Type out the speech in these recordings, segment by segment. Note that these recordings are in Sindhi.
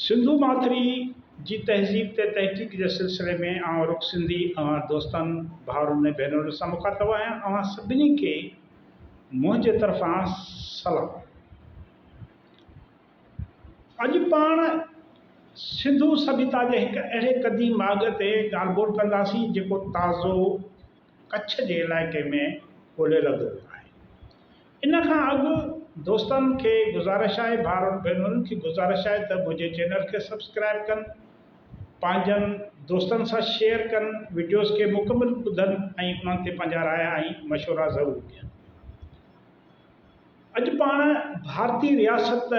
سنڌو ماٿري جي تهذيب تي تحقيق جي سلسلي ۾ آئون رخ سنڌي اوهان دوستن، ڀائرن ۽ ڀينرن سان مخاطب آهيان. اوهان سڀني کي منهنجي طرفان سلام. اڄ پاڻ سنڌو سڀيتا جي هڪ اهڙي قديم ماڳ تي ڳالهه ٻولهه ڪنداسين جيڪو تازو، ڪڇ جي علائقي ۾ ڳولي لڌو ويو آهي ان کان اڳ دوستن کي گذارش آهي ڀائرن ڀينرن کي گذارش آهي ته منهنجي چينل کي سبسڪرائب ڪن پنهنجن دوستن سان شيئر ڪن وڊيوز کي مڪمل ٻڌن ۽ انهن تي پنهنجا رايا ۽ مشورا ضرور ڏين اڄ پاڻ ڀارتي رياست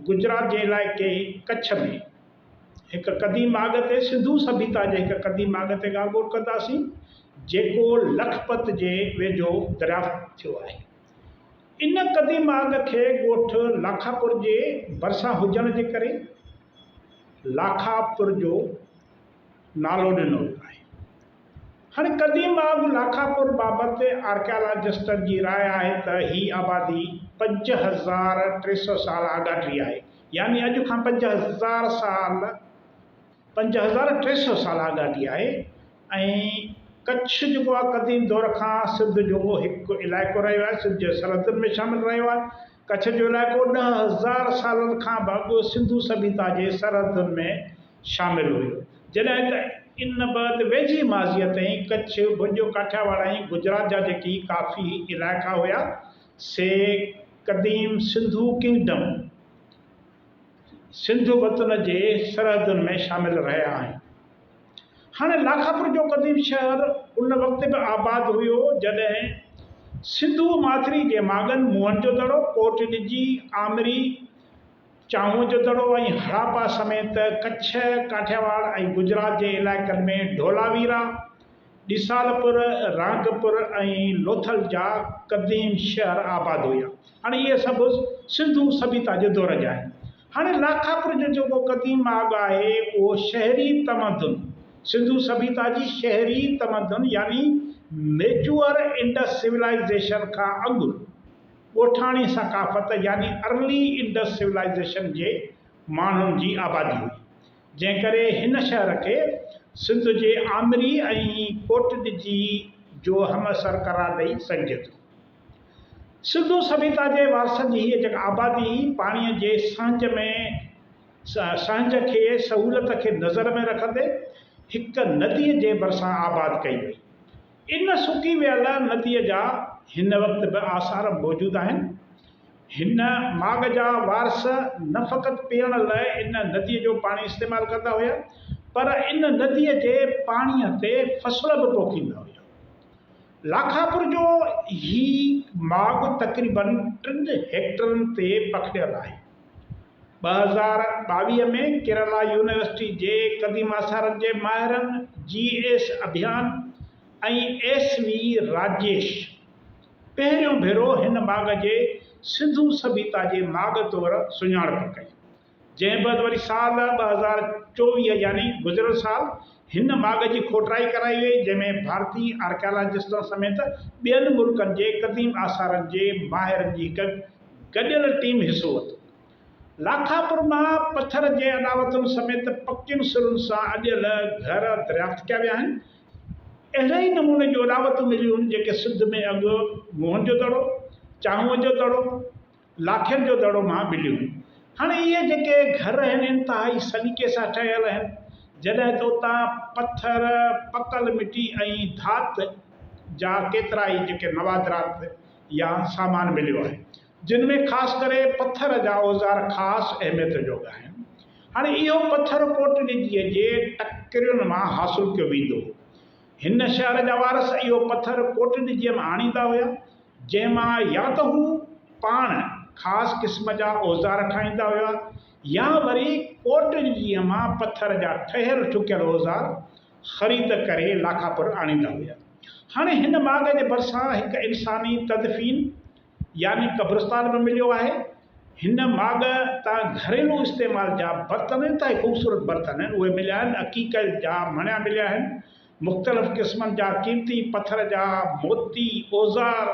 گجرات جي علائقي ڪڇ ۾ هڪ قديم آڳ تي سنڌو سڀيتا جي هڪ قديم آڳ تي ڳالگوڏ ڪنداسين جيڪو لکپت جي ويجهو دريافت ٿيو آهي. ان قديم آڳ کي ڳوٺ لاکاپور جي ڀرسان هجڻ جي ڪري لاکاپور جو نالو ڏنو ويو آهي. هن قديم آڳ لاکاپور بابت آرڪيالاجسٽن جي راء آهي ته هي آبادي پنج هزار ٽي سؤ سال آڳاٽري آهي. يعني اڄ کان پنج هزار سال پنج هزار ٽي سئو سال آڳاٽي آهي ۽ ڪڇ جيڪو آهي قديم دور کان سنڌ جو هڪ علائقو رهيو آهي سنڌ جي سرحدن ۾ شامل رهيو آهي ڪڇ جو علائقو ڏهه هزار سالن کان به اڳ سنڌو سڀيتا جي سرحدن ۾ شامل هيو جڏهن ته ان بعد ويجهي ماضيء تائين ڪڇ ڀڄ ڪاٺياواڙ ۽ گجرات جا جيڪي ڪافي علائقا هيا سي قديم سنڌو ڪنگڊم، سنڌ وطن، جي سرحدن ۾ شامل رهيا آهن. هاڻي لاکاپور جو قديم شهر ان وقت به آباد هيو جڏهن سنڌو ماٿري جي ماڳن موهن جو دڙو، ڪوٽ ڏجي، آمري، چانهه جو دڙو ۽ هڙاپا سميت ڪڇ، ڪاٺياواڙ ۽ گجرات جي علائقن ۾ ڍولاويرا، ڏسالپور، رانگپور ۽ لوٿل جا قديم شهر آباد هيا. هاڻي اهي سڀ سنڌو سڀيتا جي دور جا آهن. هاڻي لاکاپور جو جيڪو قديم ماڳ آهي اهو شهري تمدن، سنڌو سڀيتا جي شهري تمدن يعني ميچوئر انڊس سولائيزيشن کان اڳ، ڳوٺاڻي ثقافت يعني ارلي انڊس سولائيزيشن جي ماڻهن جي آبادي هئي، جنهن ڪري هن شهر کي سنڌ جي آمري ۽ ڪوٽڏجي جو همعصر قرار ڏئي سگهجي ٿو. سنڌو سڀيتا جي وارثن جي هيء جڳ آبادي پاڻيء جي سهنج ۾ سهنج کي سهولت کي نظر ۾ رکندي هڪ نديء جي ڀرسان آباد ڪئي وئي. ان سڪي ويل نديء جا هن وقت به آثار موجود آهن. هن ماڳ جا وارث نه فقط پيئڻ لاء ان نديء جو پاڻي استعمال ڪندا هيا، پر ان نديء جي پاڻيء تي فصل به پوکيندا هيا. لاکاپور جو هي ماڳ تقريبن ٽن هيڪٽرن تي پکڙيل آهي. ٻه هزار ٻاويهه ۾ ڪيرالا يونيورسٽي جي قديم آثارن جي ماهرن جي S Abhiyan ۽ S V Rajesh پهريون ڀيرو هن ماڳ جي سنڌو سڀيتا جي ماڳ طور سڃاڻپ ڪئي جنهن بعد وري سال ٻه هزار چوويهه يعني گذريل سال هن ماڳ جي کوٽرائي ڪرائي وئي جنهن ۾ ڀارتي آرڪيالاجسٽن سميت ٻين ملڪن جي قديم آثارن جي ماهرن جي هڪ گڏيل ٽيم حصو ورتو. لاکاپور مان پٿر جي اڏاوتن سميت پڪين سرن سان اڏيل گهر دريافت ڪيا ويا آهن. اهڙي ئي نموني جون اڏاوتون مليون آهن جيڪي سنڌ ۾ اڳ موهن جو دڙو، چانهوء جو دڙو، لاکين جو دڙو مان مليون هيون. هاڻ اهي جيڪي گهر آهن انتهائي سليقي سان ٺهيل آهن جڏهن ته اتان پٿر، پڪل مٽي ۽ ڌات جا ڪيترائي جيڪي نوادرات، يا سامان مليو آهي، جن ۾ خاص ڪري پٿر جا اوزار خاص اهميت جوڳا آهن. هاڻي اهو پٿر ڪوٽڏجيء جي ٽڪرين مان حاصل ڪيو ويندو هو. هن شهر جا وارث اهو پٿر ڪوٽڏجيء مان آڻيندا هيا، جنهن مان يا ته هو پاڻ خاص قسم جا اوزار ٺاهيندا هيا يا وري ڪوٽڏجيء مان پٿر جا ٺهيل ٺڪيل اوزار خريد ڪري لاکاپور آڻيندا هيا. هاڻي هن ماڳ جي ڀرسان هڪ انساني تدفين يعني قبرستان به مليو آهي. هن ماڳ تان گهريلو استعمال جا برتن انتهائي خوبصورت برتن آهن اهي مليا آهن. عقيقه جا مڻيا مليا آهن. مختلف قسمن جا قيمتي پٿر جا موتي، اوزار،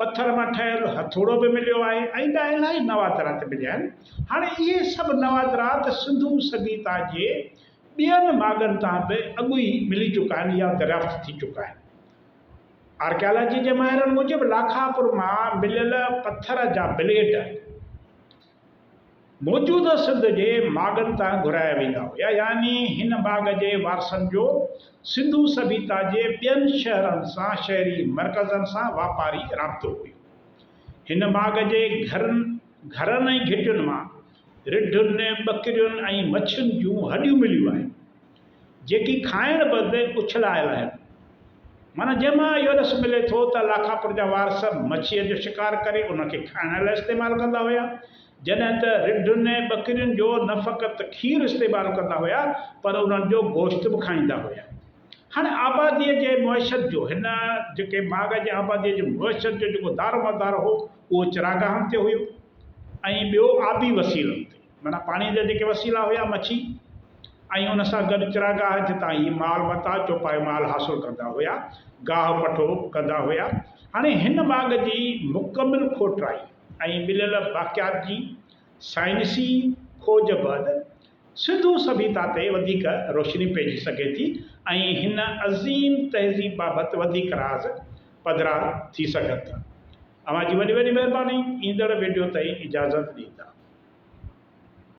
پٿر مان ٺهيل هٿوڙو به مليو آهي ۽ ٻيا الاهي نوادرات مليا آهن. هاڻي اهي سڀ نوادرات سنڌو سگيتا جي ٻين ماڳن تان به اڳ ئي ملي چڪا آهن يا دريافت ٿي چڪا آهن. آرڪيالاجي جي ماهرن موجب لاکاپور مان مليل پٿر جا بليڊ، موجوده سنڌ جي ماڳن تان گهرايا ويندا هيا يعني هن ماڳ جي وارثن جو سنڌو سڀيتا جي ٻين شهرن سان شهري مرڪزن سان واپاري رابطو هيو هن ماڳ جي گهرن گهرن ۽ گهٽين مان رڍن ٻڪرين ۽ مڇين جون هڏيون مليون آهن جيڪي کائڻ بدي اڇلايل آهن. معنيٰ جنهن مان اهو رس ملي ٿو ته لاکاپور جا وارث مڇيء جو شڪار ڪري ان کي کائڻ لاء استعمال ڪندا هيا. جڏهن ته رڍن ۽ ٻڪرين جو نه فقط کير استعمال ڪندا هيا پر انهن جو گوشت به کائيندا هيا. هاڻي آباديء جي معيشت جو هن جيڪي ماڳ جي آباديء جي معيشت جو جيڪو دارومدار هو اهو چراگاهن تي هيو ۽ ٻيو آبي وسيلن تي. معنيٰ پاڻيء جا جيڪي وسيلا هيا، مڇي ۽ ان سان گڏ چراگاهه جتان هي مال متاع، چوپايو مال، حاصل ڪندا هيا، گاهه پٺو، ڪندا هيا. هاڻي هن باغ جي مڪمل کوٽرائي ۽ مليل باقيات جي سائنسي کوج بعد سنڌو سڀيتا تي وڌيڪ روشني پئجي سگهي ٿي ۽ هن عظيم تهذيب بابت وڌيڪ راز پڌرا ٿي سگهن ٿا. اوهان جي وڏي وڏي مهرباني ايندڙ وڊيو تائين اجازت ڏيندا.